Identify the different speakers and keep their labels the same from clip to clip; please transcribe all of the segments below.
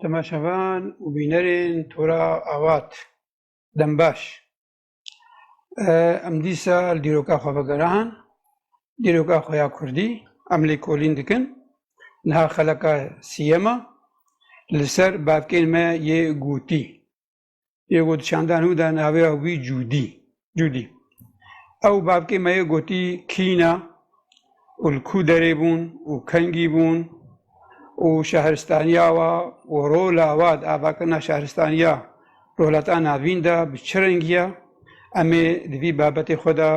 Speaker 1: Temaşevan û bînerên Tora Avat dem baş. Em dîsa li dîroka xwe vegeran, dîroka xwe ya Kurdî. Em lêkolîn dikin. Niha xeleka sîyem e li ser bavkên me yê gotî. Yê got çanda nû da navê wî Cûdî. Cûdî. Ew bavkê me yê gotî kîna û li kû derê bûn û kengî bûn û şehristaniya wa û rola wa di avakirina şehristaniya rolata navîn de bi çi rengiya em ê di vî babetê xwe de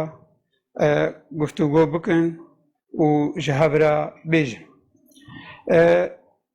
Speaker 1: guftûgo bikin û ji hev re bêjin.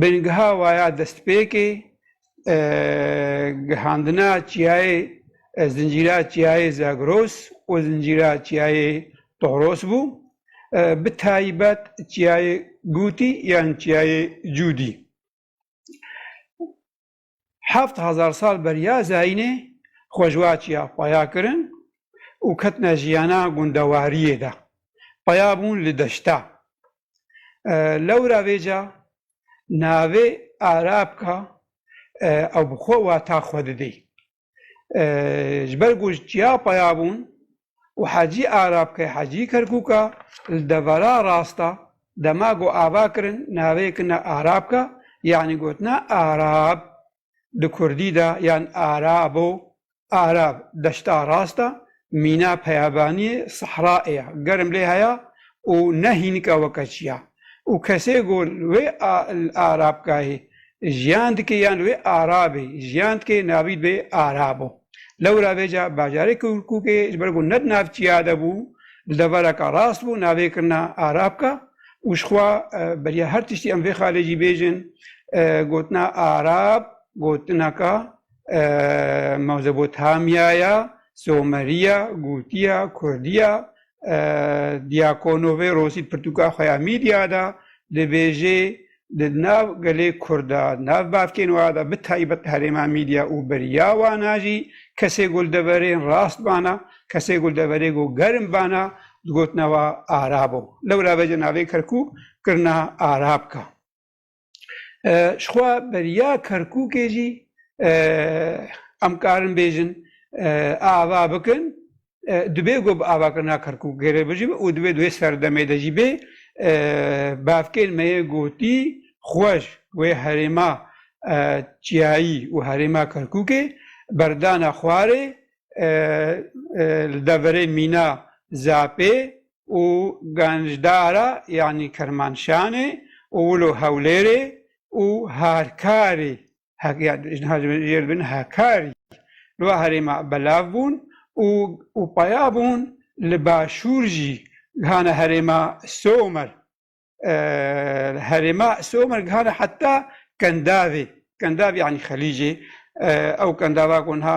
Speaker 1: Bingeha waya destpêkê gihandina çiyayê zincîra çiyayê Zagros û zincîra çiyayê Toros bû, bi taybet çiyayê Gûtî yan çiyayê Cûdî. heft hezar sal beriya Zayînê xwe ji wa çiya paya kirin û ketine jiyana gundewariyê de. Paya bûn li deşta. Lewra vêca navê Arabka ew bi xwe wata xwe didê. Ji ber ku çiya peya bûn û Hecî Arabke Hecî Kerkûka li devera rasta dema ku ava kirin navê kine Arabke yanî gotine Arab di kurdî de yan Arabo, Arab, deşta rasta mîna peyavaniyê sehra ê germ lê heya û ne hînika weke çi ya û kesê ku li wê arabgahê jiyan dike yan li wê arabê jiyan dike navî dibe arabo. Lewra vê ca bajarê Kirkûkê ji ber ku ne di navçiya de bû li devereke rast bû navê kirina arabka û ji xwe beriya her tiştî em vê xalê jî bêjin gotina arab gotineka Mezopotamyaya Somerîya Gûtîya Kurdîya Diakonovê Rosî pirtûka xwe ya mîdîya de dibêjê di nav gelê Kurd de nav bavkên wa de bi taybet herêma mîdîya û beriya wan a jî kesê ku li deverên rast bana kesê ku li deverê ku germ bana digotina wa Arab o. Lewra vejê navê Kerkûk kirina Arabka. Ji xwe beriya Kerkûkê jî em karin bêjin ava bikin, dibê ku bi avakirina Kerkûkê re bijî û dibê di wê serdemê de jî bê. Bavkên me yê gotî xweş wê herêma çiyayî û herêma Kerkûkê berdana xwarê li deverê mîna Zapê û Ganjdara yanî Kirmanşanê û wilo Hewlêrê û Hakarî li va herêma belav bûn û peya bûn li başûr jî gihane herêma Somer. herêma Somer gihane heta Kendavê. Kendavê yanî Xelîcê. Ew kendava ku niha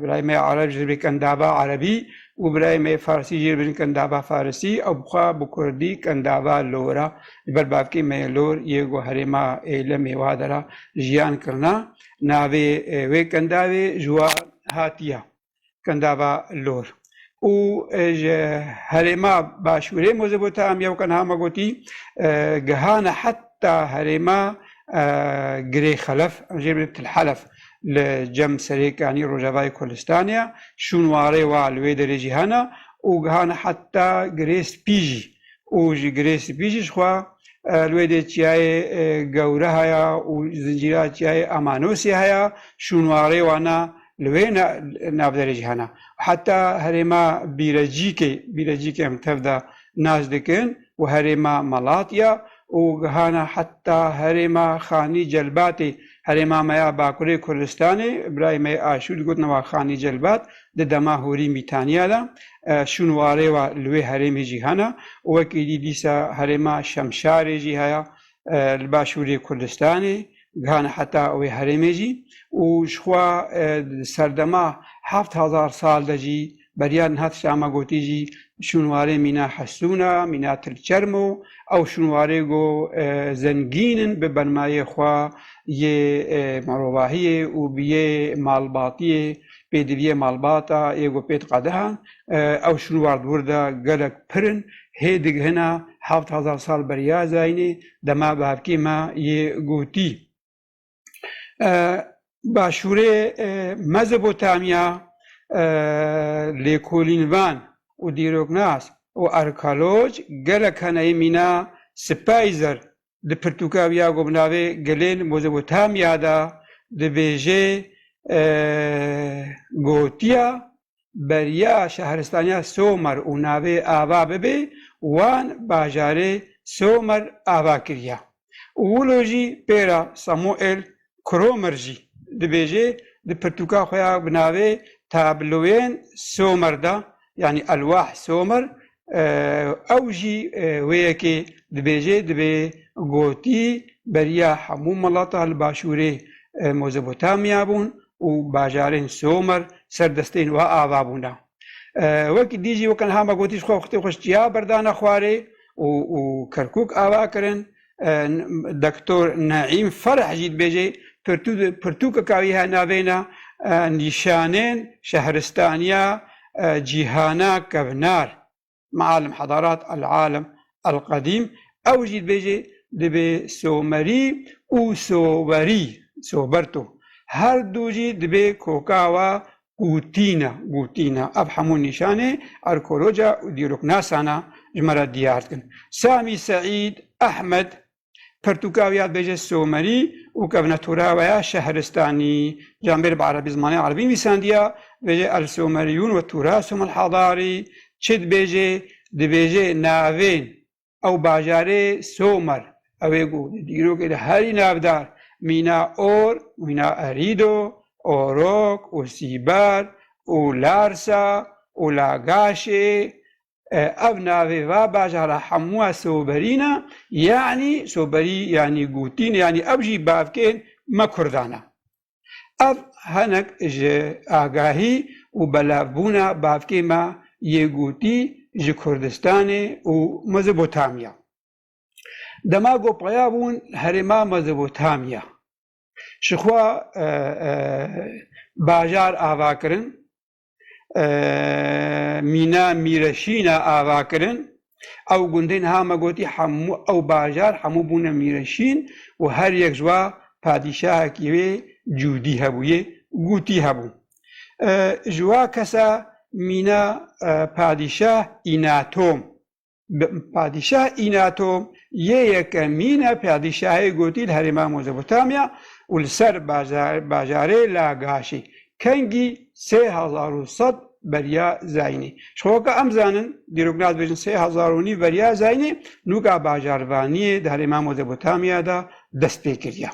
Speaker 1: birayê me Ereb ji dibê kendava Erebî û birayê me Farsî jî dibin kendava Farisî. Ew bixwe bi Kurdî kendava Lora. Li ber bavkê me yê Lor yê ku herêma Êlemê wa de re jiyan kirina. Navê wê kendavê ji wan hatiye. Gundava Lor û ji herêma başûrê Mozopotamiya weke niha me gotî gihane heta herêma Girê Xelef an jê bidin Til Helef li cem serêkanî rojavayê Kurdistanê ye. Şûnwarê wa li wê derê jî hene û gihane heta Girê Spî jî û ji Girê Spî jî jixwe li wê dê Çiyayê Gewre heye û zincîra Çiyayê Amanosê heye. Şûnwarê wan e. li wê navberê jî hene. Heta herêma Bîrecîkê, Bîrecîkê em tev de nas dikin û herêma Malatya û gihana heta herêma Xanî Celbatê. Herêma me ya Bakurê Kurdistanê, birayê me yê Aşûr digotin wa Xanî Celbat di dema hûrî Mîtaniya de. Şûn warê wa li wê herêmê jî hene û wekî dî dîsa herêma Şemşarê jî heye. li Başûrê Kurdistanê gihane heta wê herêmê jî û jixwe di serdema heft hezar sal de jî beriya niha tişta me gotî jî şûnwarê mîna hesûn e, mîna tilçerm û ew şûnwarê go zengîn in bi benmayê xwe yê mirovahiyê û bi yê malbatiyê pêdiviyê malbata yê ku pê diqede ew şûnwar di wir de gelek pir in, hê digihina heft hezar sal beriya zayînê dema bi hevkê me yê gotî. Başûrê Mezopotamya lêkolînvan û dîroknas û arkeoloj gelek hene yê mîna Spayzer Di pirtûka wî ya ku bi navê Gilên Mezopotamya de dibêje gotiya beriya şahristaniya Somer û navê ava bibê wan bajarê Somer ava kiriye û wilo jî pêra Samuel Kromer jî dibêjê di pirtûka xwe ya bi navê Tabloyên Somer de yanî Elwah Somer ew jî wê yekê dibêjê dibê gotî beriya hemû milata li başûrê Mozopotamya bûn û bajarên Somer ser destên wan ava bûne. Wekî dî jî wek niha me gotî ji xwe xwitê xwe ji çiya berdane xwarê û Kerkûk ava kirin Doktor Neîm Fereh jî dibêje, pirtûkeka wî ya navêna Nîşanên Şehristaniya Cîhana Kevnar, Maalim Hedarat El-Alim El-Qedîm, ew jî dibêje dibê somerî û sowerî, soberto, her du jî dibê koka we Gotîna, gotîna, ev hemû nîşanê arkeoloja û dîroknasan a ji me re diyar dikin. Samî Seîd Ehmed, pertûka wî ya dibêje Somerî û kevna tora we ya Şehristanî. Camêr bi erebî zimanê erebî nivîsandiya, dibêje El Someriyûn we Turasûm El Hadarî. Çi dibêje? Dibêje navên ew bajarê Somer ew ê ku di dîrokê de herî navdar mîna Or, mîna Erido, Orok û Sîber û Larsa û Lagaşê ev navê va bajara hemûa soberîn e yanî soberî yanî gotîn yanî ew jî bavkên me kurdan e. Ev hinek ji agahî û belavbûna bavkê me yê gotî ji Kurdistanê û Mezopotamya. Dema ku peya bûn herêma Mezopotamya, jixwe bajar ava kirin, Mîna Mîreşîna ava kirin. Ew gundê niha me gotî hemû ew bajar hemû bûne mîreşîn û her yek ji wa padîşahekî wê cûdî hebûyê, gûtî hebû. Ji wa kesa mîna padîşah Înatom. Padîşah Înato yê yekemîn e padîşahê gotî li herêma Mezopotamya û li ser bajarê Lagaşî kengî sê hezar û sed beriya Zaynî. Ji xwe weke em zanin dîroknaz bêjin sê hezar û nîv beriya Zaynî nûka bajarvaniyê di herêma Mezopotamya de dest pê kiriye.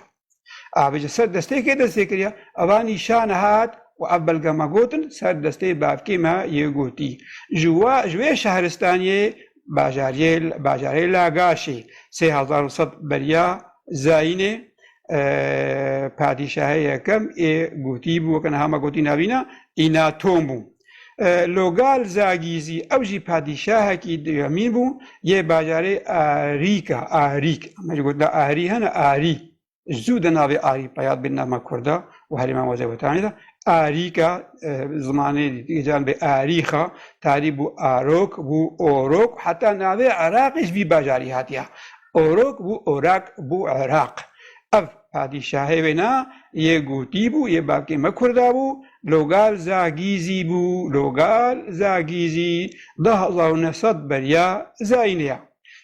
Speaker 1: Ev ji ser destêkê destpê kiriye. Eva nîşan hat û ev belge me gotin ser destê bavkê me yê gotî. Ji we ji wê şehristaniyê bajariyê bajarê Lagaşê sê hezar û sed beriya Zayînê padîşahê yekem ê gotî bû weke niha me gotî navîna Înaton bû. Logal Zagî zî ew jî padîşahekî duyemîn bû yê bajarê Arîka, Arîk, me jî gotina Arî hene, Arî, zû de navê Arî peya dibê nama kurd a û herî Mezopotamyê de Arîka, zimanê dîgecan bê Arîxa, tarî bû Arok, bû Orok û heta navê Iraqê ji vî bajarî hatiye. Orok bû Orak, bû Iraq. Ev. Padîşahê wêna yê gotî bû, yê bakê me kurda bû, Logal Zagîzî bû, Logal Zagîzî, du hezar û neh sed beriya Zayînê ya.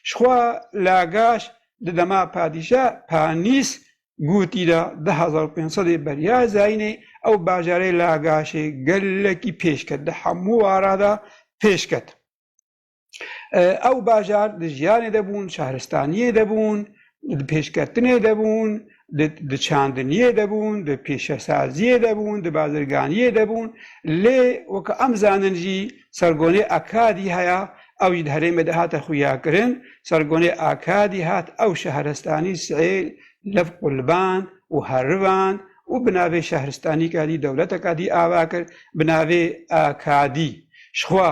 Speaker 1: Ji xwe Lagaş di dema padîşah Panîs gotî de du hezar û pênc sedê beriya Zayînê ew bajarê Lagaşê gelekî pêş ket, di hemû wara de pêş ket. Ew bajar di jiyanê de bûn, şaristaniyê de bûn, di pêşketinê de bûn, di çandiniyê de bûn, di pêşesaziyê de bûn, di bazirganiyê de bûn. Lê wek em zanin jî sergonê Akadî heye, ew jî di herêmê de hate xuyakirin. Sergonê Akadî hat ew şehrestanî sihêl lev quliband û herivand û bi navê şehristanîka dî dewleteka dî ava kir bi navê Akadî. Jixwe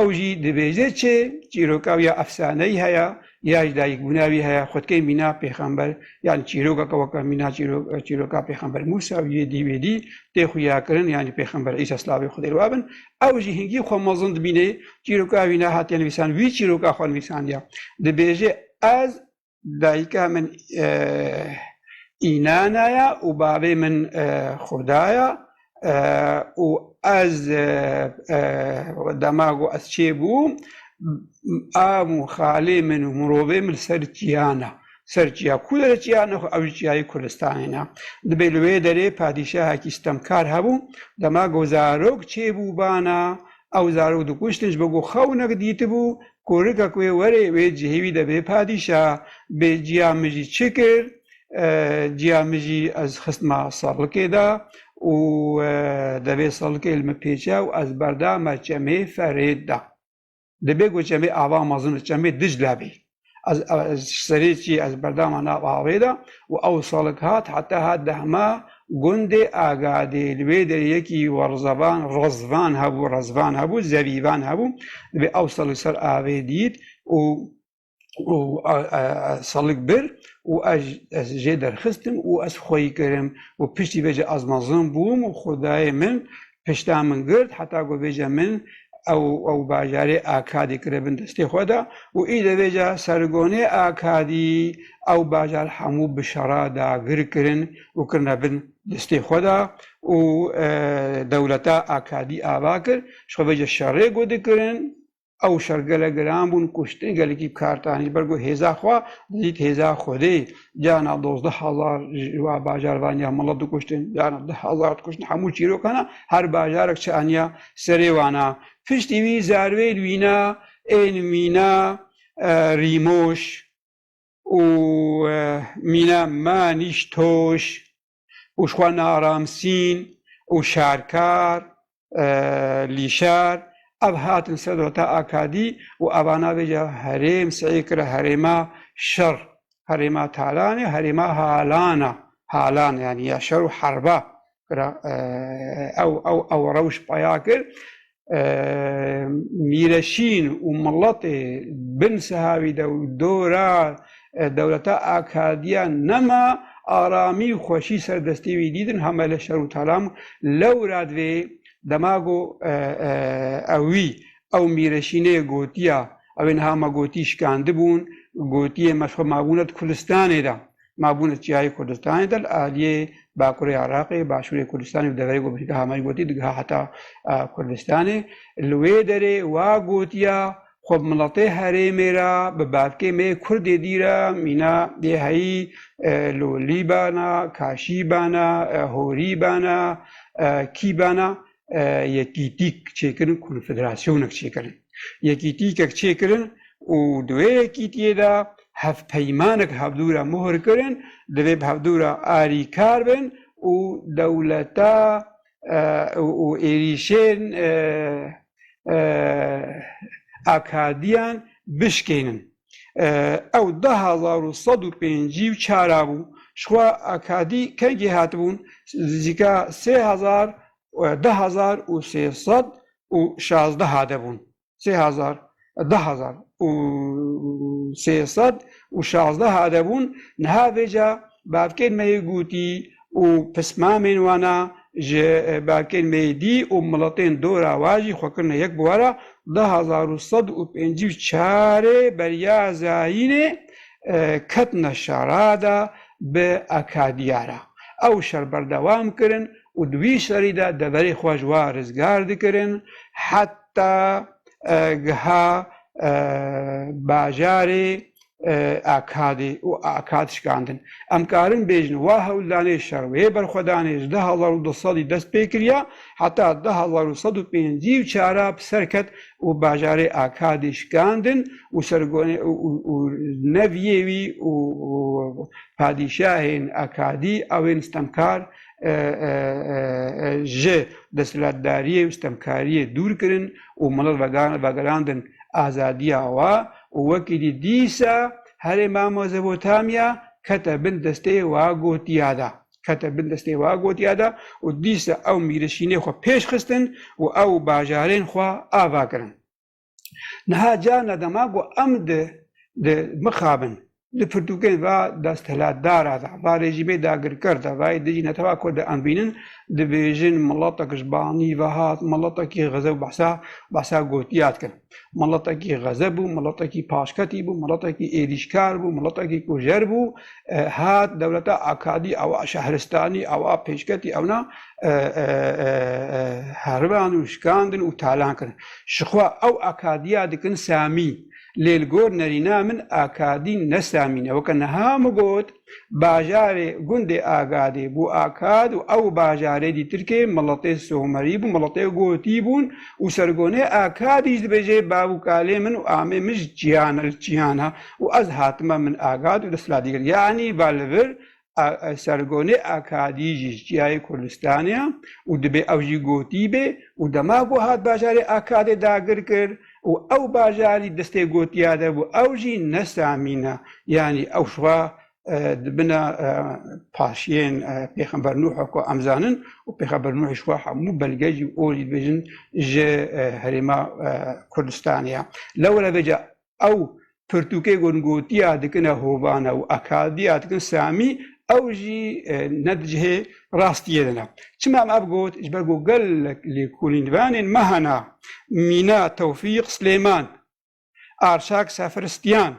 Speaker 1: Ew jî dibêje çê çîroka wî ya efsaneyî heye ya ji dayikbûna wî heye, xwedkê mîna pêxember yanî çîrokeke weke mîna çîroka pêxember Mûsa û yê dî wê dî tê xuyakirin yanî pêxember Îsa slavê Xwedê li we bin. Ew jî hingî xwe mezin dibîne çîroka wî nehatiye nivîsan wî çîroka xwe nivîsandiye. Dibêje ez Dayika min Înana ye û bavê min Xurda ye û ez dema ku ez çêbûm av û xalê min û mirovê min li ser çiya ne. Ser çiya ku derê çiya ne xwe ew jî çiyayê Kurdistanê ne. Dibê li wê derê padîşahekî sitemkar hebû. Dema ku zarok çêbûbana ew zarok dikuştin ji bo ku xewnek dîtibû Korika ku wê were wê cihê wî de bê padîşa, bê ciya min jî çi kir? Ciya min jî ez xistma serlikê de û devê serlikê li min pêçe û ez berdame çemê Ferêd de. Dibe ku çemê ava mezin li çemê Dicle bê. Ez ji serê çiyê ez berdame nav avê de û ew serlik hat heta hat dehme Gundê Agadê li wê derê yekî werzevan, rezvan, hebû, rezvan hebû, zevîvan hebû. Divê ew sal li ser avê dît û û salik bir û ez ez jê derxistim û ez xweyî kirim û piştî vê jî ez mezin bûm û xwedayê min pişta min girt heta ku vêca min ew ew bajarê Akadî kire bin destê xwe de û îde vêca Sergonê Akadî ew bajar hemû bi şera dagir kirin û kirine bin destê xwe de û dewleta Akadî ava kir ji xwe vêca şerê ku dikirin ew şer gelek giran bûn kuştin gelekî kartan ji ber ku hêza xwe didît hêza Xwedê carna dozdeh hezar ji wa bajar vaniya milet dikuştin carna deh hezar dikuştin hemû çîrokan e her bajarek çi aniya serê wan e piştî wî zarvêl wîna ên mîna e, rîmoş û e, mîna manîş toş û xwe naramsîn û şerkar lî şer ev hatin ser dewleta Akadî û eva navêje herêm seyê kire herêma şer, herêma talanê, herêma halana, halan yanî ya şer û herba kira ew ew ew rewş peya kir mîreşîn û miletê bin sihawî de û dora dewleta Akadiya nema aramî û xweşî serdestî wî dîdin hamele şer û talam lewra divê dema go ewî ew mîreşînê gotiya ew ê niha me gotî şikandibûn gotiyê me xwe mabûne di Kurdistanê de mabûn li Çiyayê Kurdistanê de li aliyê Bakurê Iraqê, Başûrê Kurdistanê û deverê ku Birîka Hamay gotî digiha heta Kurdistanê. Li wê derê wa gotiya xwe bi miletê herêmê re bi bavkê me yê Kurdê dîr e, mîna yê heyî Lolî bana, Kaşî bana, Horî bana, Kî bana yekîtîk çêkirin konfederasyonek çêkirin. Yekîtîkek çêkirin û di wê yekîtiyê de hevpeymanek hevdûra muhir kirin divê bi hevdûra arîkar bin û dewleta û êrîşên akadiyan bişkênin. Ew du hezar û sed û pêncî û çar a bû. Jixwe akadî kengî hatibûn nizîka sê hezar du hezar û sê sed û şazdeh a de bûn. Sê hezar du hezar û sê sed û şazdeh a de bûn. Niha vêca bavkên me yê gotî û pismamên wan a ji berkên mêdî û miletên dora wan jî xwe kirine yek bi were du hezar û sed û pêncî û çarê beriya Zayînê ketine şara de bi Akadiya re ew şer berdewam kirin û di wî şerî de deverê xwe ji wan rizgar dikirin heta giha bajarê Akadî û Akad şikandin. Em karin bêjin wa hewldanê şer wê berxwedanê ji du hezar û du sedî dest pê kiriya heta du hezar û sed û pêncî û çar a bi ser ket û bajarê Akadî şikandin û sergonê û neviyê wî û padîşahên Akadî ew ên stemkar ji desthilatdariyê û stemkariyê dûr kirin û milet vegerandin azadiya wa û wekî dî dîsa herê ma Mezopotamya kete bin destê wa gotiya de, kete bin destê wa gotiya de û dîsa ew mîrişînê xwe pêş xistin û ew û bajarên xwe ava kirin. Niha carna dema ku em di di mixabin Di pirtûkên va desthilatdara de, va rejîmê dagirker de, va êdî jî netewa ku dienvînin, dibêjin miletek ji banî ve hat, miletekî xizeb behsa behsa gotiya dikin. Miletekî xizeb bû, miletekî paşketî bû, miletekî êrîşkar bû, miletekî kujer bû, hat dewleta akadî ewa şehristanî ewa pêşketî ewna heriban û şikandin û talan kirin. Jixwe ew akadiya dikin Samî. Lê li gor nerîna min Akadîn ne Samîn e. Weke niha min got, bajarê gundê Agadê bû Akad û ew bajarê dî tirkê miletê Somerî bû, miletê Gotî bûn û sergonê Akadî ji dibêjê bav û kalê min û amê min ji cîhan e, li cîhan e û ez hatime min Agad û desthilatî kir. Yanî va li vir Sergonê Akadî jî ji çiyayê Kurdistanê ye û dibê ew jî gotî bê û dema ku hat bajarê Akadê dagir kir û ew bajarî destê gotiya de bû ew jî ne Samîn e yanî ew ji xwe di bina paşiyên Pêxember Nuh ku em zanin û Pêxember Nuh ji xwe hemû belge jî û jî dibêjin ji herêma Kurdistanê ye. Lewre vêca ew pirtûkê ku gotiya dikine hovane û akadiya dikin samî ew jî ne di cihê rastiyê de ne. Çima em ev got? Ji ber ku gelek lêkolînvanên me hene, mîna Tewfîq Silêman, Arşak Sefristyan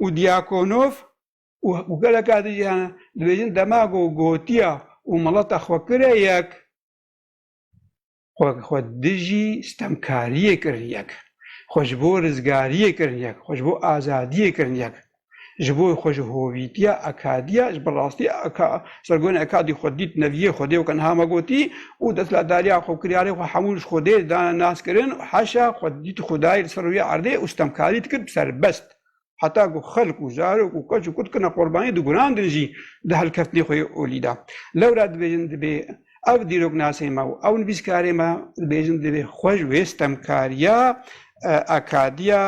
Speaker 1: û Diakonof û û geleka din jî hene, dibêjin dema ku gotiya û mileta xwe kire yek, xwe xwe dijî stemkariyê kirin yek, xwe ji bo rizgariyê kirin yek, xwe ji bo azadiyê kirin yek, ji bo xwe ji hovîtiya akadiya ji bi rastî aka sergonê akadî xwe dît neviyê xwedê weke niha me gotî û destladariya xwe kiryarê xwe hemû ji xwedê dane naskirin û heşa xwe dît xwedayê li ser rûyê erdê û stemkarî dikir serbest heta ku xelk û zarok û keç û kut kirine qurbanî di guran din jî di helkeftinê xwe yê olî de. Lewra dibêjin dibê ev dîroknasê me û ew nivîskarê me dibêjin dibê xwe ji wê sitemkariya akadiya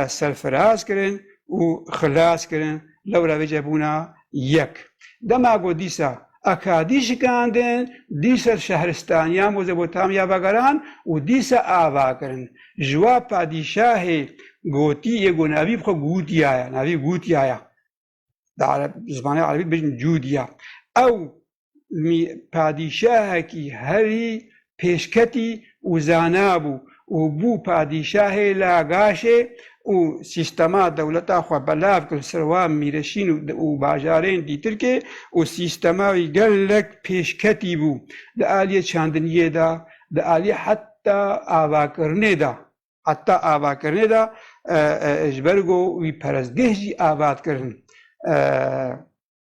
Speaker 1: serfiraz kirin û xilas kirin lewra vê cebûna Yek. Dema ku dîsa Akadî şikandin, dîsa şehristaniya Mozopotamiya vegeran û dîsa ava kirin. Ji wa padîşahê gotî yê ku navî bi xwe Gûtya ye, navî Gûtya ye, bi zimanê erebî dibêjin Cûdya, ew mî padîşahekî herî pêşketî û zana bû û bû padîşahê Lagaşê û sîstema dewleta xwe belav kir li ser wa mîreşîn û bajarên dîtirkê û sîstema wî gelek pêşketî bû di aliyê çandiniyê de di aliyê heta avakirinê de heta avakirinê de ji ber ku wî perestgeh jî avat kirin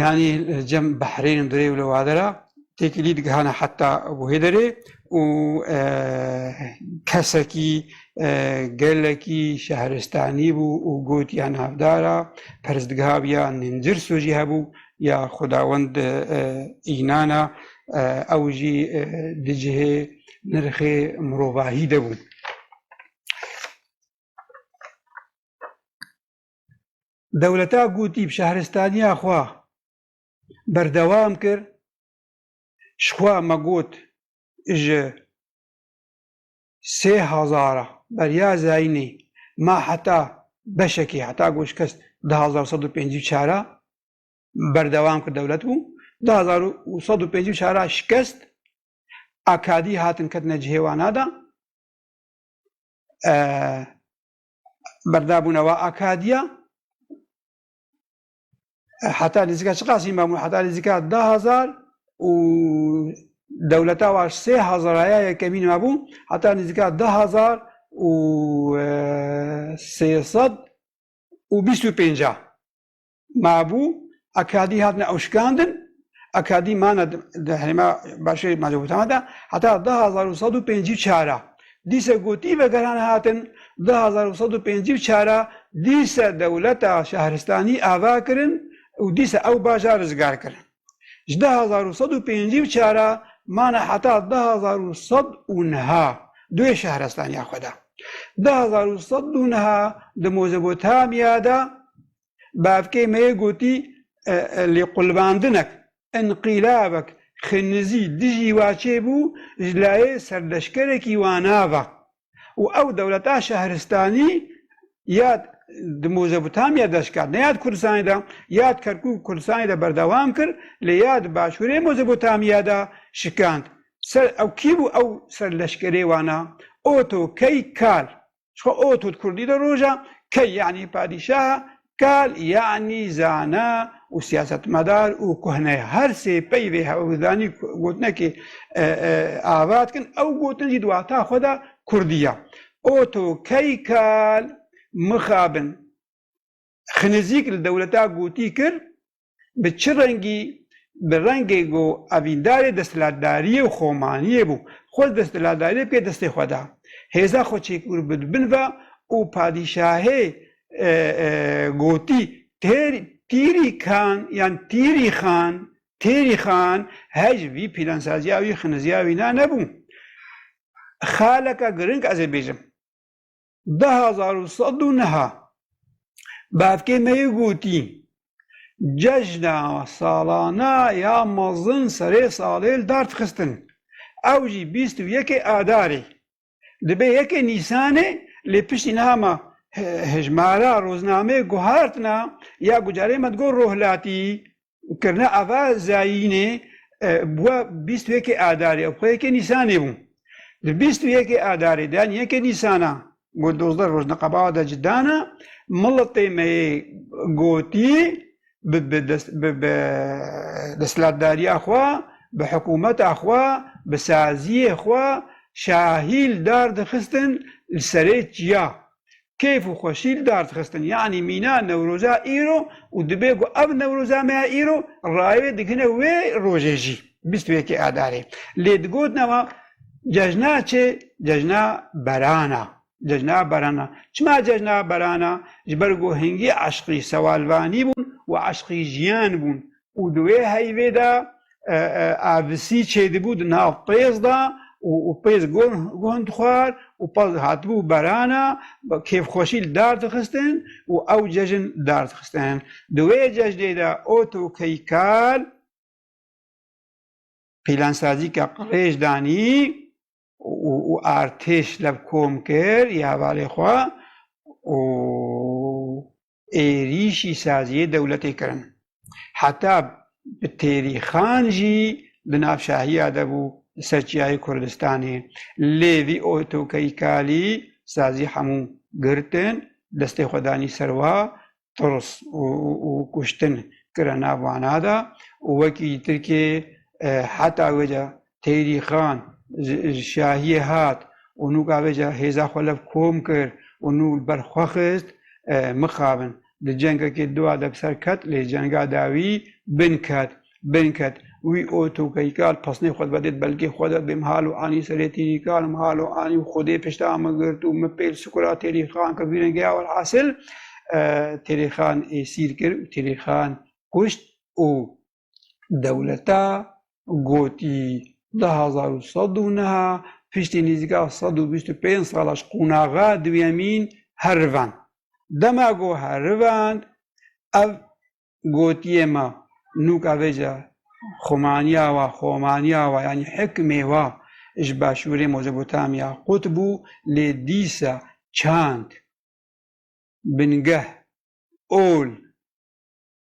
Speaker 1: Yanî li cem behrênên durê û li wade re têkilî digihane heta bo hê derê û kesekî gelekî şehristanî bû û got ya navdar a perstgeha bi ya Ningirso jî hebû ya Xwedawend înan a ew jî di cihê nirxê mirovahî de bû. Dewleta Gotîb şehristaniya xwe berdewam kir, Jixwe me got ji sê hezar a beriya Zeynê me heta beşekê heta ku şikes di hezar û sed û pêncî û çar a berdewam kir dewlet bû, di hezar û sed û pêncî û çar a şikest akadî hatin ketine cihê wana de. berdabûnewa Akadiya heta nêzîka çi qasî mabûn heta nêzîka da hezar û dewleta wa sê hezaraya yekemîn mabû heta nêzîka da hezar û sê sed û bîst û pênca mabû, akadî hatine ewşikandin, akadî mane di herêma başêrê Mezopotamya de heta du hezar û sed û pêncî û çar a. Dîse gotî vegeran hatin, du hezar û sed û pêncî û çar a dîse dewleta şehristanî ava kirin û dîse ew bajar rizgar kirin. Ji du hezar û sed û pêncî û çar a mane heta du hezar û sed û niha di wê şehrestanîya xwe de. Du hezar û sed û niha di Mozopotamya de Bavkê me yê gotî lêqulbandinek, înqîlabek xinizî dijî wa çêbû ji layê serleşkerekî wa nava û ew dewleta şehristanî ya di Mozopotamya de şikand ne ya di Kurdistanê de ya di Kerkûk û Kurdistanê de berdewam kir lê ya di başûrê Mozopotamya de şikand. Ser ew kî bû ew serleşkerê wana? Oto Key Kal. Çixwe ot û di kurdî de roj e. Key yanî padîşah e, kal yanî zana û siyasetmedar û kuhne ye. Her sê peyvê hewldanî gotinekê ava dikin, ew gotin jî di wata xwe de kurdî ye. Ot û key kal mixabin. Xinizîk li dewleta gotî kir, bi çi rengî bi rengê ku evîndarê desthilatdariyê û xomaniyê bû, xwe li desthilatdariyê pê destê xwe da. Hêza xwe çêkûr bi di bin ve û padîşahê gotî, Têr, Tîrî Kan yan Tîrî Xan, Têrî Xan, her ji vî pîlansaziya wî, xiniziya wî na nebû. Xaleke giring ez ê bêjim. Di hezar û sed û neh bavkê me yê gotî, cejna salana ya mezin serê salê li dar dixistin, ew jî bîst û yekê adarê dibe yekê nîsanê lê piştî niha me hejmara roznameyê guhertina ya gucarê me digor rohlatî Kirne ava zayînê bûa bîst û yekê Adarê û xwe yekê Nîsanê bû. Di bîst û yekê Adarê de yan yekê Nîsan a ku dozdeh roj di qebala de ci dana, miletê me yê gotî bi bi desthilatdariya xwe, bi hikûmeta xwe, bi saziyê xwe şahîl dar dixistin li serê çiya keyf û xweşî li dar dixistin. Yanî mîna Newroza îro û dibê ku ev Newroza me ya îro rayê digihine wê rojê jî bîst û yekê Adarê. Lê digotina wan cejna çi? Cejna beran a. Cejna beran a. Çima cejna beran a? Ji ber ku hingî eşqî sewalvanî bûn û eşqî jiyan bûn. û di wê heyvê de avisî çêdibû di nav pêz de û pêz guh dixwar û pez dihatibû berana kêfxweşî li dar dixistin û ew cejin li dar dixistin. Di wê cejnê de otokeykar pîlansazîka qirêj danî û artêş levkom kir ya hevalê xwe û êrîşî saziyê dewletê kirin. Heta bi Têrî Xan jî di nav şahiya de bû li ser Çiyayê Kurdistanê. Lê vî otokeykalî sazî hemû girtin, destê xwe danî ser wa, tirs û kuştin kire nav wana de û wekî Tirkiyê heta wê de Teyrî Xan ji şahiyê hat û nû gavêje hêza xwe lev kom kir û nû li ber xwe xist, mixabin. Di cengekê dua de bi ser ket, lê cenga de wî bin ket. Bin ket. Wî û Tokeyka li pesnê xwe de vedê di belgê xwe de bê mihal û anî serê Teyrî Xan û mihal û anî û xwedê pişta min girt û min pêl sikura Teyrî Xan kir vî rengê ya welhasil Teyrî Xan ê sîr kir û Teyrî Xan kuşt û Dewleta gotî di hezar û sed û neh a piştî nîzîka sed û bîst û pênc sala ji qonaxa duyemîn herivand. Dema ku herivand ev gotiyê ma nûka vê ji xumaniya wa, xomaniya wa yanî hikmê wa ji başûrê Mozopotamya qut bû lê dîsa çand, bingeh, ol,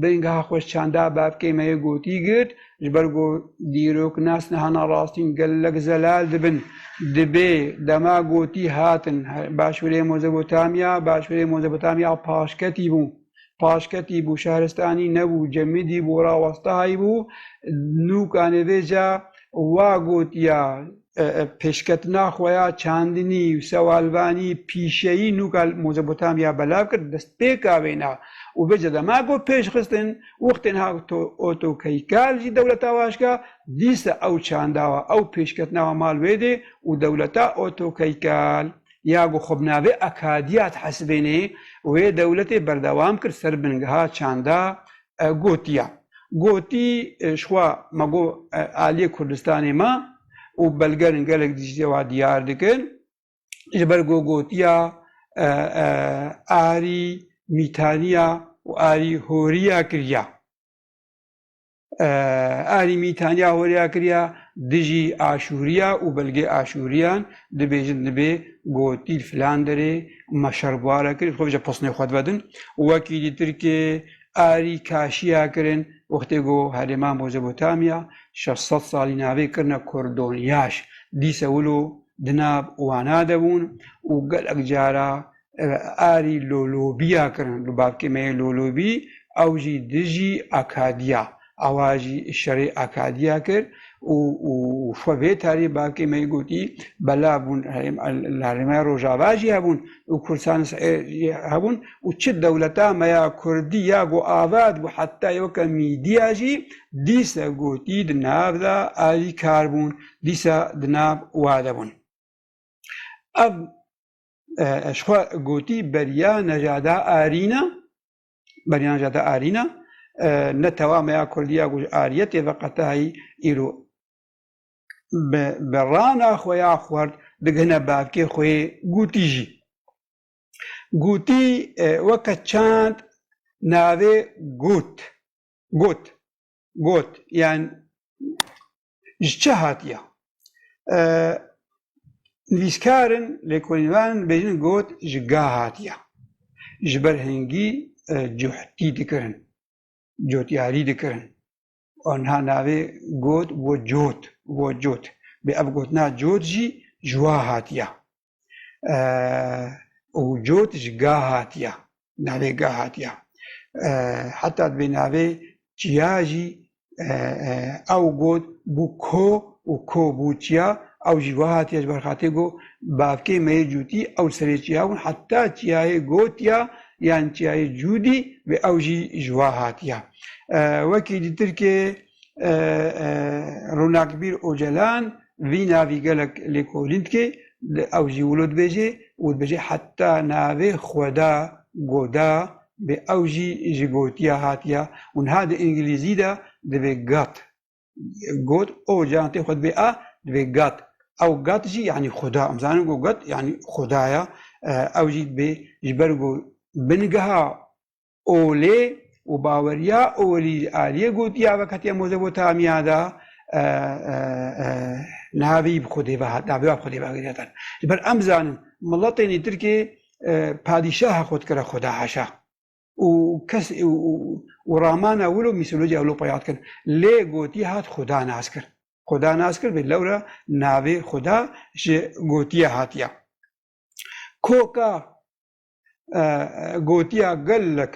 Speaker 1: Bingeha xweşçanda bavkê me yê gotî girt, ji ber ku dîrok nas niha narastîn gelek zelal dibin. Dibê dema gotî hatin Başûrê Mozopotamya, Başûrê Mozopotamya paşketî bû. Paşketî bû, şehristanî nebû, cemidî bû, rawestahayî bû. Nûkanê vê ca wa gotiya. Pêşketina xwe ya çandinî û sewalvanî pîşeyî nûka li Mozopotamya belav kir, destpêka wê na û vê zedama ku pêşxistin wextên hat Otokeika li dewleta Waşka, dîsa ew çanda wa, ew pêşketina wa mal wê dê û dewleta Otokeika ya ku xwe bi navê Akadiya dihesibênê wê dewletê berdewam kir ser bingeha çanda gotiya. Gotî şwa ma got aliyê Kurdistanê ma û belgerin gelek dijî wa diyar dikin. Ji ber ku gotiya arî mîtaniya û arî horiya kiriya. Arî mîtaniya horiya kiriya dijî aşûriya û belgê aşûriyan dibêjin dibê gotî filan derê ma şer bwara kir xwe bije posnê xwe divedin. Wekî dîtir ke Arî kaşiya kirin wextê ku herêma Mozopotamya şeş sed salî navê kirine Kordon Yaş, dîse wilo di nav wana de bûn û gelek cara arî lolobîya kirin, li bavkê me yê lolobî ew jî dijî Akadiya Awa jî şerê Akadiya kir û xwe vê tarî bakê me gotî, belav bûn la rêmeya rojava jî hebûn û Kurdistanê Sihê jî hebûn û çi dewleta me ya Kurdî ya ku avat bû heta ye weke mîdîya jî dîsa gotî di nav de alîkar bûn, dîsa di nav wa de bûn. Ev ji xwe gotî beriya Nejada Arîn e. Beryanan jî hate arîna. Ne tewa meya Kurdî ya ku ji ariyetê ve qete heyî îro bi berana xwe ya xwert digihine bavkê xwe yê Gûtî jî. Gûtî weke çand navê Gut, Gut, Got yan ji çi hatiye? Nivîskarin, lêkolînvanin bêjin got ji ga hatiye. Ji ber hingî cuhtî dikirin, cotyarî dikirin. Niha navê got bo cot, bo cot. Bê ev gotina cot jî ji wa hatiye. û cot ji ga hatiya navê ga hatiya heta di vê navê çiya jî ew got bû ko û ko bû çiya ew jî wiha hatiye ji ber xatê got bavkê me yê cûtî ew serê çiya bûn heta çiyayê gotiya yan çiyayê cûdî vê ew jî ji wa hatiya wekî di tirkiyeyê Ronakbîr Ocalan vî navî gelek lêkolîn dike, ew jî wilo dibêje û dibêje heta navê xweda goda bê ew jî ji gotiya hatiya û niha di îngilîzî de dibê God. God Ocalan tê xwe dibê a dibê God. Ew God jî yanî xweda. Em zanin ku God yanî xweda ya. Ew jî dibê ji ber ku bingeha Olê û baweriya Olî Aliyê got ya veketiya Mozopotamiya de niha vî bi xwe dê vehat navê wan bi xwe dê vegirêdin. Ji ber em zanin miletên ê Tirkê padîşaha xwe dikire xwe de haşa û kes û ramana wil û mîtolojiya wil xwe yad kirin. Lê gotiye hat xuda nas kir. Xuda nas kir vê lewre navê xuda ji gotiye hatiye. Koka gotiya gelek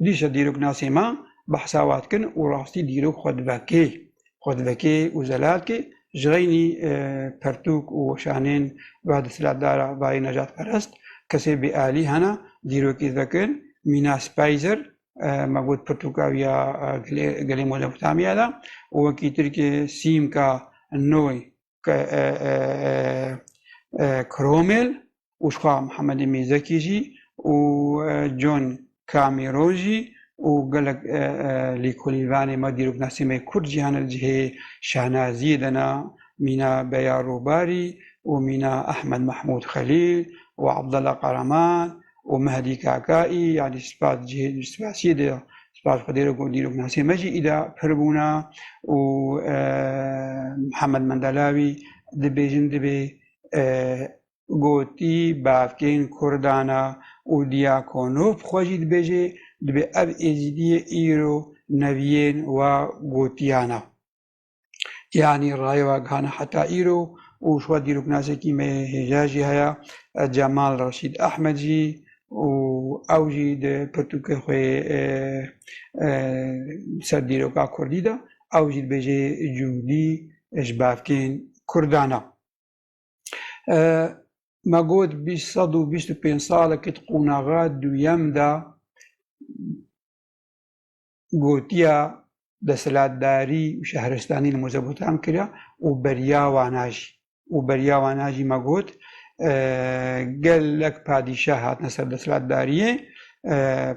Speaker 1: dîşe dîroknasê me behsa we dikin û rastî dîrok xwe divekê. Xwe divekê û zelal dikê ji reynî pertûk û weşanên ve di silahdara vayê nejatperest kesê bêalî hene dîrokî divekin Mîna Speyzer me got pirtûka wî ya gelê Mezopotamya de û wekî tirkê Sîmka Noy Kromel û jixwe Mihemedê Mîzekî jî û John Cameron jî û gelek lîkolîvanê me dîrok Nesîmê Kurd jî hene li cihê Şehnaziyê de ne mîna Beya Rûbarî û mîna Ehmed Mehmûd Xelîl û Abdella Qaraman û Mehdî Kaka î yanî spas spasiyê de spas xwedê re ku dîrok nasê me jî îda pir bûna û Mihemed Mendelawî dibêjin dibê gotî bavkên Kurdan a û Diakonof xwe jî dibêjê dibê ev êzîdiyê îro neviyên wa gotiyana. Yanî rayê we gihane heta îro û ji we dîroknasîyekî me yê hêja jî heye Cemal Reşîd Ehmed jî û ew jî di pirtûkê xwe yê ser dîroka kurdî de ew jî dibêje Cûdî ji bavkên kurdan e. Me got bîst sed û bîst û pênc salekî di qonaxa duyem de gotiya desthilatdarî û şehristanî li Mozebotam kiriya û beriya wan a jî û beriya wan a jî me got gelek padîşah hatine ser desthilatdariyê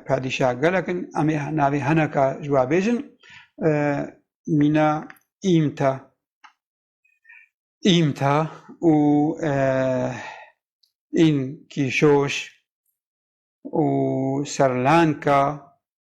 Speaker 1: padîşah gelek in em ê navê hineka ji we bêjin mîna îmta îmta û în kîşoş û serlanka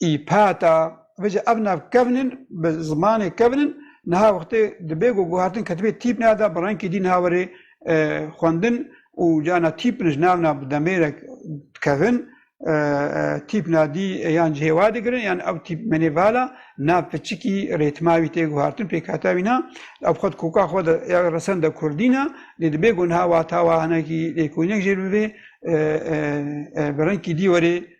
Speaker 1: îpata vê jî ev navkevn in bi zimanê kevn in niha wextê dibê ku guhertin ketibê tîpna de bi renkê dî niha were xwendin û carna tîpin ji navna bi demêrek dikevin tîpna dî yan cihê wa digirin yan ew tîp menê vala nav piçikî rêtma wî tê guhertin pêkhata wî na ev xwe di koka xwe de ya resen de kurdî na lê dibê ku niha wata wa hinekî lêkolînek jêr bivê bi renkî dî were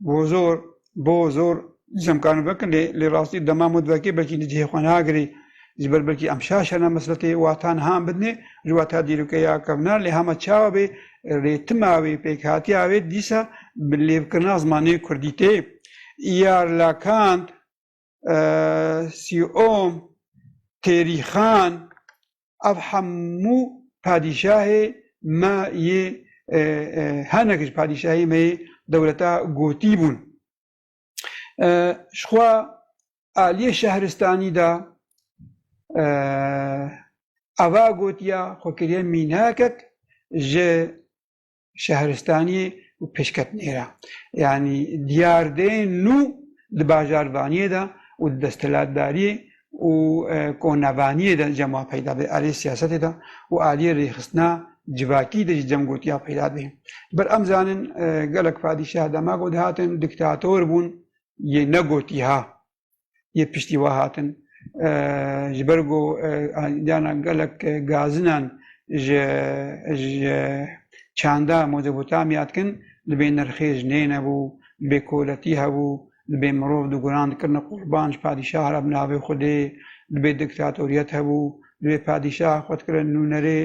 Speaker 1: Bozor, Bozor, dîsem karin vekin lê lê rastî dema mod vekê belkî di cihê xwe nagirê ji ber belkî em şaş hena mesletê wata niha em bidinê ji wata dîrokeya kevna lê hema çawa bê rêtima wê pêkhatiya wê dîsa bi lêvkirina zimanê kurdî tê. Îyar Lakant. Sîom, Têrîxan ev hemû padîşahê me yê hinek ji padîşahê me yê dewleta gotî bûn. Ji xwe aliyê şehristanî de eva gotiya xwe kiriye mînekek ji şehristaniyê û pêşketnêra yanî diyardeyên nû di bajarvaniyê de û di desthilatdariyê û konevaniyê de cem wa peyda bê aliyê siyasetê de û aliyê rêxistina civakî de jî cem gotiya peyda bê. Bir em zanin gelek padîşah dema ku dihatin diktator bûn yê ne gotiha yê piştî we hatin. Ji ber ku diyana gelek gazinan ji ji çanda Mezopotamya dikin, dibê nirxê jinê nebû, dibê koletî hebû, dibê mirov di guran dikirine qurban ji padîşah re bi navê Xwedê, dibê diktatoriyet hebû, Divê padîşah xwe dikira nûnerê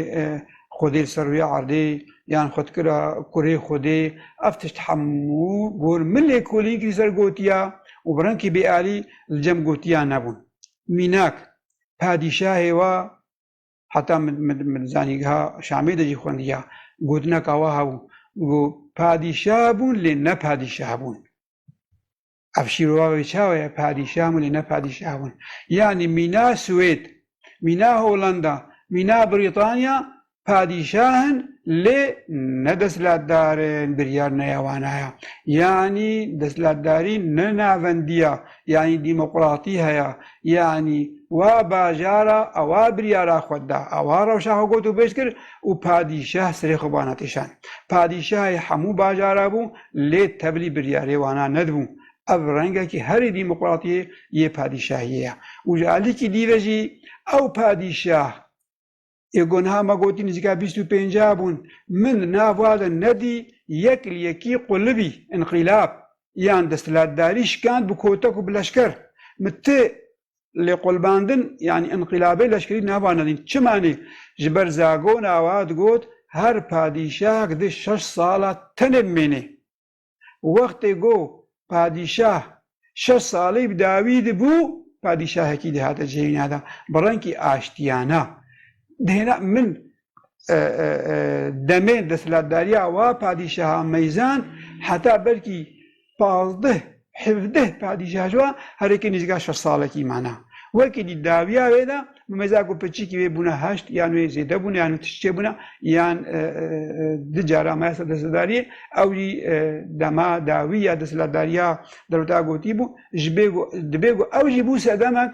Speaker 1: xwedê li ser rûya erdê yan xwe dikira kurê xwedê. Ev tişt hemû gor min lêkolînkî li ser gotiya û bi renkî bêalî li cem gotiya nebûn. Mînak, padîşahê wa heta min di zanîngeha Şamê de jî xwendiya, gotineka wa hebû, got, Padîşah bûn lê ne padîşah bûn. Ev şîrova çawa ye? Padîşah min e, ne padîşah min. Yanî mîna Swêd, mîna Holanda, mîna Brîtanya padîşah in lê ne desthilatdar in, biryar ne ya wan heye. Yanî desthilatdarî ne navendî ya, yanî dîmoqratî heye. Yanî wa bajara ewa biryara xwe da, ewa rewşa xwe got û bêj kir û padîşah serê xwe ba natîşand. Padîşahê hemû bajara bû. Lê tevlî biryarê wana nedibû. Ev rengekî herî dîmoqratî yê padîşahiyê ye û ji alîkî dî ve jî ew padîşah ê ku niha me gotî nizîka bîst û pênceh bûn, min nava de nedî yek li yekî qulibî, înqîlab, yan desthilatdarî şikand bi kotek û bi leşker. Min ti Lêkolbandin yanî înqîlabê leşkerî nava nedîn. Çimanî ji ber Zago nawa digot her padîşahek di şeş sala tenê bimênê. Wextê go padîşah şeş salî bi dawî dibû padîşahekî dihate cihêna de bi renkî aştiyana. Dihêna min demê desthilatdariya wa padîşaha meyzan heta belkî pazdeh hevdeh padîşaha ji wan herêkê nêzîka şeş salekî mane. Wekî dî dawiya wê de bi meza ku piçikî wê bûne heşt yan wê zêde bûne yan wê tişt çê bûne yan du cara maye ser desthilatdariyê ew jî dema dawî ya desthilatdariya derwta gotî bû ji bê ku dibê ku ew jî bû sedemek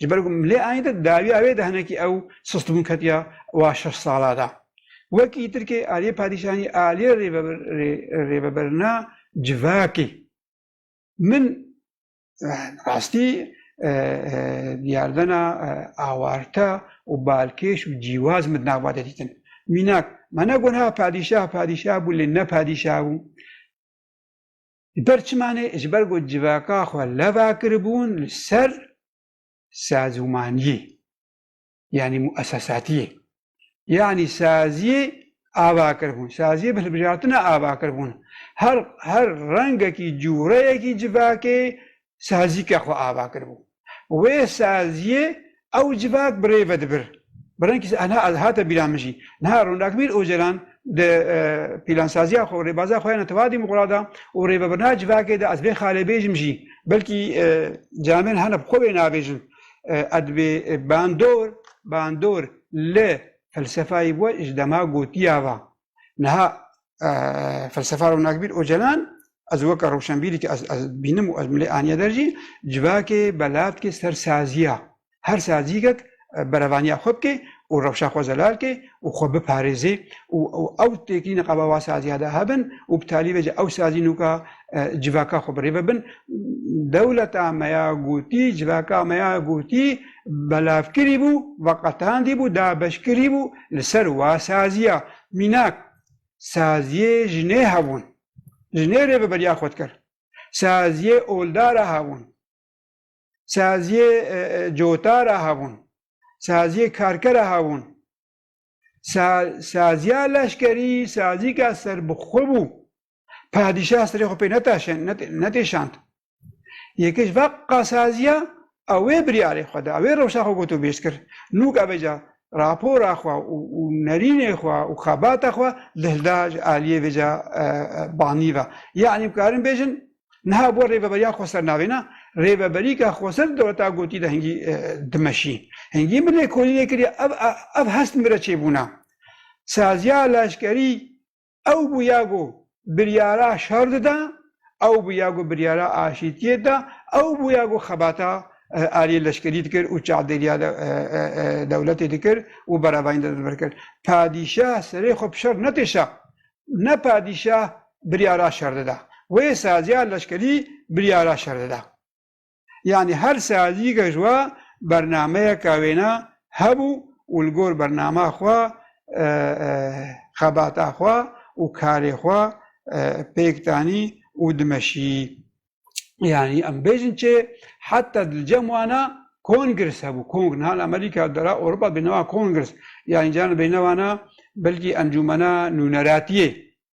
Speaker 1: Ji ber ku milê anî de dawiya wê de hinekî ew sistbûn ketiya wa şeş sala de. Wekî Tirkê aliyê padîşanî aliyê rêveberina civakê. Min rastî diyardana awarte û balkêş û cîwaz min di nava de dîtin. Mînak, me ne got ha padîşah padîşah bû lê ne padîşah bû. Di ber çimanê ji ber ku civaka xwe leva kiribûn li ser sazûmaniyê yanî muesesatiyê yanî saziyê ava kiribûn, saziyê bi hilbijartina ava kiribûn. Her her rengekî cûreyekî civakê sazîke xwe ava kiribû. Wê saziyê ew civak bi rê ve dibir. Bi rengî niha ez hate bîra min jî. Niha Rûnakbîr Ocalan di pîlansaziya xwe û rêbaza xwe ya neteweyî dîmûqrat de û rêvebirina civakê de ez bê xalê bêjim jî belkî camên hene bi xwe bê navêjin ez bê bandor bandor li felsefayê we ji dema gotiya va. Niha felsefar û nakbîr Ocalan ez weke rewşenbîrî ki ez ez bînim û ez milê aniye der jî civakê belavdkê ser saziya her sazîgek berevaniya xwe bikê û rewşa xwe zelal kê û xwe biparêzê û ew têkilîna qaba wa saziya de hebin û bi talî ve jî ew sazî nûka civaka xwe birêve bin dewleta me ya gotî civaka me ya gotî belavkirî bû veqetandî bû dabeşkirî bû Li ser wa saziya mînak saziyê jinê hebûn. Jinê rêveberiya xwe dikir. Saziyê olda re hebûn. Saziyê cota re hebûn. Saziyê karke re hebûn. Sa saziya leşkerî sazîka serbixwe bû. Padîşah serê xwe pê netaşe ne netêşand. Yeke ji van qasaziyan a wê biryarê xwe da, a wê rewşa xwe got û bêst kir. Nûk ebe ca rapora xwe û nerînê xwe û xebata xwe dihilda ji aliyê vê ca banî ve. Yanî bikarin bêjin niha bo rêveberiya Xweser navêna rêveberîka Xweser dewleta gotî de hingî dimeşî. Hingî min lêkolînê kiriye ev hest min re çêbûna. Saziya leşkerî Ew bûya ku biryara şer dida, ew bûya ku biryara aşîtiyê dida, ew bûya ku xebata aliyê leşkerî dikir û çavdêriya dewletê dikir û berevayîn dide vir kir. Padîşah serê xwe bi şer nekişa. Ne padîşah biryara şer dida. Wê saziya leşkerî biryara şer dida. Yanî her sealîyîke ji we bernameyeke wêne hebû û li gor bernama xwe xebata xwe û karê xwe pêk danî û dimeşîyî. Yanî em bêjin çê heta di cem wana Congress hebû, kong niha li Amerîka di ra Ewropa dibêjin wan Congress yanî caran dibêjine wana belkî Encûmena Nûneratiyê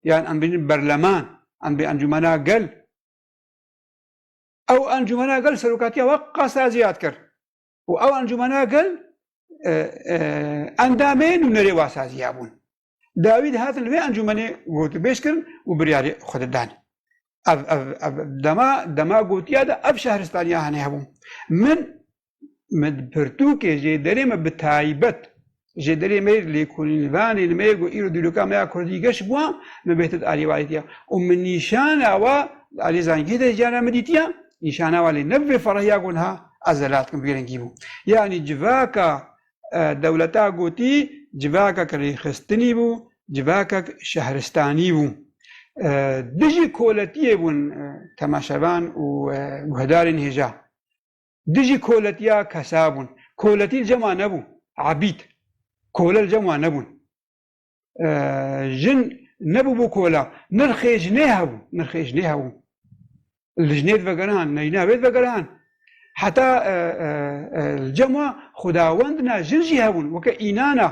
Speaker 1: yan em dibêjin berleman, em dibêjin Encûmena Gel. Ew encûmena gel serokatiya we qasaya ziyad kir û ew encûmena gel endamê nûnerê we saziya bûn. Dawî dihatin li vê encûmenê gotûbêj kirin û biryarê xwe didan. Ev ev ev dema dema gotiya de ev şehristaniya hene hebû. Min me di pirtûkê jêderê me bi taybet jêderê me yê lêkolînvanên me yê ku îro dîroka me ya kurdî geş bûa me bê tit alî wadîtiya û min nîşana wa li alî zangî de jiyana min dîtiya nîşana wa lê ne bi vê ferahiya ku niha ez zelat kim bi vê rengî bû yanî civaka e, dewleta gotî civakek rêxistinî bû civakek şehristanî bû e, dijî koletiyê bûn e, temaşevan û guhdarên hêja Dijî koletiya kesa bûn. Koletî li cem a nebû, ebîd. Kole li cem a nebûn. Jin nebû bo kola. Nirxê jinê hebû, nirxê jinê hebû. Li jinê divegerihan, li jina wê divegerihan. Heta li cema xwedawend na jin jî hebûn, weke înan a,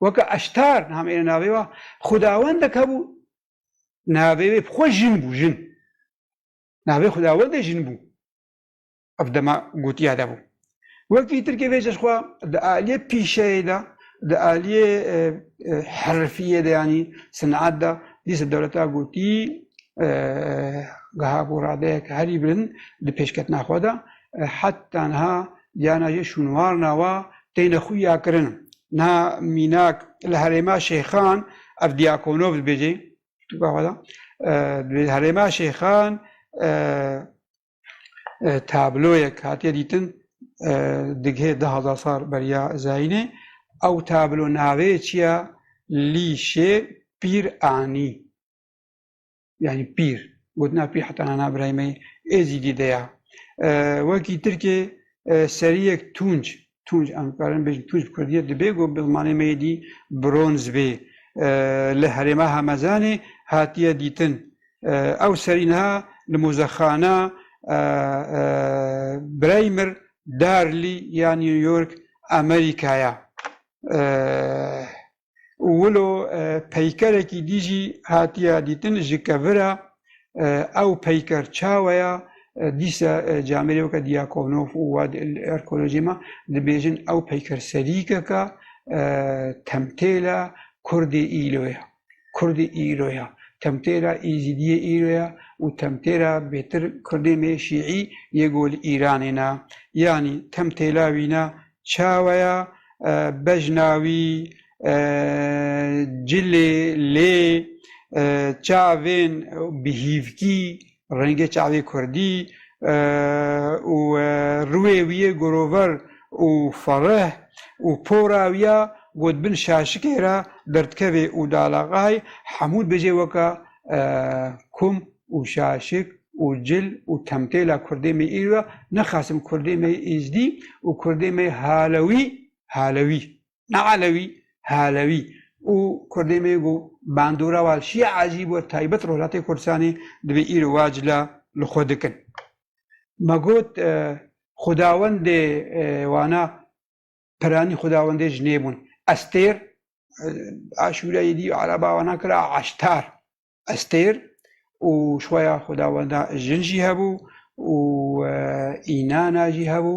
Speaker 1: weke eştar niha me êne navê wa. Xwedawendek hebû, navê wê bi xwe jin bû, jin. Navê xwedawendê jin bû. Ev dema gotiya de bû. Wekî Tirkê vê jî xwe di aliyê pîşeyê de, di aliyê herifiyê de yanî sineat de dîsa dewleta gotî geha ku radeyek herî bilind di pêşketina xwe de heta niha diyana jê şûnwar nawa têne xuya kirin. Niha mînak li herêma şêxan ev diyakonov dibêjê Gavada di herêma Şêxan tabloyek hatiye dîtin digihê di hezar sar beriya Zayînê ew tablo navê çi ye lîşê pîr anî yanî pîr gotina pîr heta nana birayî me êzîdî de ya wekî tirkê seriyek tunc Tunç, em karin bêjin Tunç bi kurdiyê dibê ku bi zimanê me yê dî bronz bê. Li herêma Hemezanê hatiye dîtin. Ew serî niha li muzexana Braymir Darlî ya New York Amerîkaya. û wilo peykerekî dî jî hatiye dîtin ji kevira ew peyker çawe ya dîsa camêrê weke Diakonov û Wad Erkolojê me dibêjin ew peyker serîkeka temtêla Kurdê îro ye. Kurdê îro ye. Temtêla Êzîdiyê îro ye û temtêla bêtir Kurdê me Şîî yê ku li Îranê ne. Yanî temtêla wî ne Çaweya bejna wî, cilê, lê, çavên bi hîvkî, rengê çavê kurdî û riwê wî yê gorover û fereh û pora wî ya ku di bin şaşikê re berdikeve û dalaxay hemû dibêje weke kom. û şaşik û cil û temtêla kurdê me îro ya, nixasim kurdê me yê Îzdî û kurdê me yê Halewî, Halewî, ne Elewî, Halewî û kurdê me yê ku bandora wan şîya ecîb û taybet Rojhilatê Kurdistanê divê îro wa cila li xwe dikin. Me got xwedawendê wana piranî xwedawendê jinê bûn. Estêr, Aşûreyê dî araba wana kira Eştar. Estêr û şoya xwedawenda jin jî hebû û înana jî hebû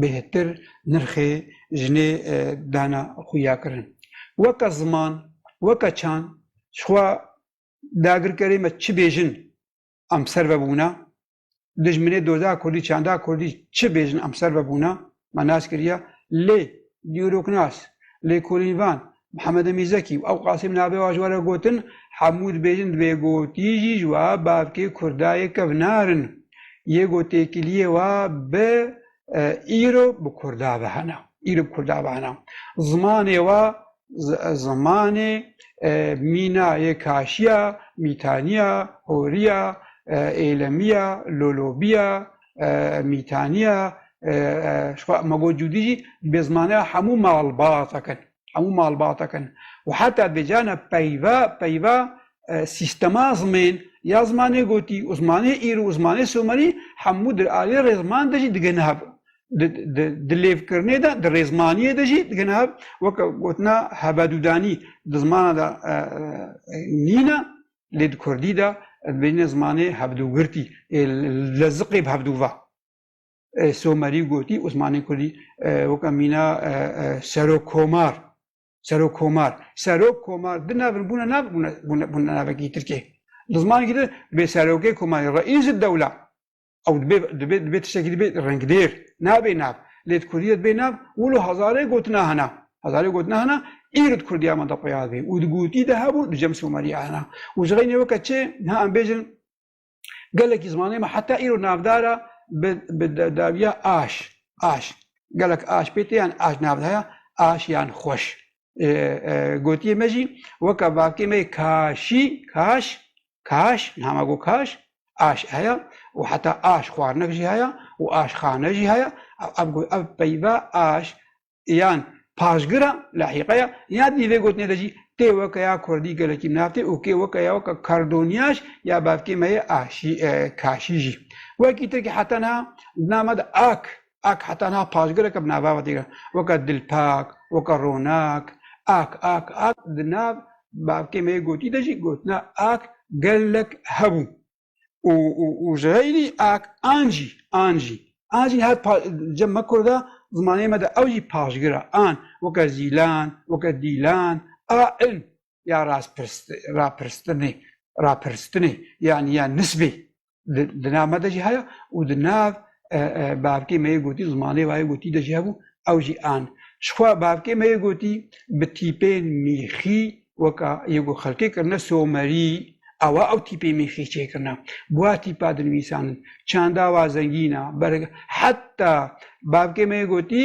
Speaker 1: bêhtir nirxê jinê dana xuya kirin. Weke ziman, weke çand, jixwe dagirkerê me çi bêjin em ser ve bûna. Dijminê doza kurdî, çanda kurdî çi bêjin em ser ve bûna, me nas kiriye. Lê dîroknas, lêkolînvan Mihemed Emîn Zekî û ew Qasim navê wan ji we re gotin, hemû dibêjin di vê gotî jî ji we bavkê kurda yê kevnar in. Yê ku têkiliyê we bi îro bi kurda ve hene. Îro bi kurda ve hene. Zimanê we zimanê mîna yê kaşiya, mîtaniya, horiya, êlemiya, lolobiya, mîtaniya, magocûdî jî bi zimanaya hemû malbatan kin. Hemû malbatan kin. Û heta bi cana peyva peyva sîstema zimên ya zimanê gotî û zimanê îro û zimanê somerî hemû di aliyê rêziman de jî digihne hev. di lêvkirinê de di rêzmaniyê de jî digine hev weke gotina hebedûdanî di zimana de e, e, nîne lê di kurdî de bêne zimanê hevdûgirtî ê leziqê hevdûva somerî gotî û zimanê kurdî weke mîna serok komar serok komar serok komar di navir bûne nav bûne navekî tirkê di zimanekî de bê serokê komarî reîs dewla Ew dibê dibê dibê tiştekî dibê rengdêr nabê nav. Lê di Kurdî de dibê nav wilo hezarê gotina hene. Hezarê gotina hene îro di Kurdîya me de xuya dibê û di gotî de hebû di cem somerî ya hene. Û ji xeynê weke çê niha em bêjin gelekî zimanê me heta îro navdar e bi bi dawiya aş aş. Gelek aş pê tê yan aş nav de heye aş yan xweş. Gotiyê me jî weke bavkê me yê kaşî kaş Kaş, niha got kaş, aş heye û heta aş xwarinek jî heye û aşxane jî heye. Ev got ev peyva aş yan paşgir e li hîqe ye ya dî vê gotinê de jî tê weke ya kurdî gelekî nav tê û kê weke ya weke kardonîyaş ya bavkê me yê aşî kaşî jî wekî tir ke heta niha di nav me de ak Ak heta niha paşgirek e bi nava xwe tê kirin. Weke Dilpak, weke Ronak, Ak, Ak, Ak di nav bavkê me yê gotî de jî gotina Ak gelek hebû û û û ji heylî Ak an jî, an jî, an jî niha pa cem me kurd e zimanê me de ew jî paşgir e, an, weke Zîlan, weke Dîlan, a, in, ya rapirstinê rapirstinê yanî ya nisbê di nav me de jî heye û di nav bavkê me yê gotî zimanê wayê gotî de jî hebû ew jî an. Jixwe bavkê me yê gotî bi tîpên mîxî weka yê ku xelkê kirine somerî ewa ew tîpê mîxî çêkirine. Bûa tîpa dinivîsanin. Çanda wa zengîn a. Heta bavkê me yê gotî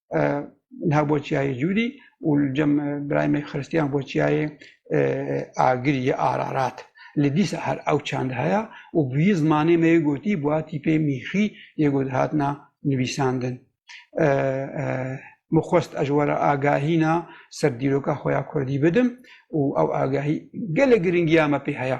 Speaker 1: niha bo çiyayê Cûdî û li cem birayê me Xristiyan bo çiyayê Agirî ya Ararat. Li dîsa her ew çand heye û bi wî zimanê me yê gotî bi wa tîpê mîxî yê got hatina nivîsandin. Min xwest ez were agahîna ser dîroka xwe ya Kurdî bidim û ew agahî gelek giringiya me pê heye.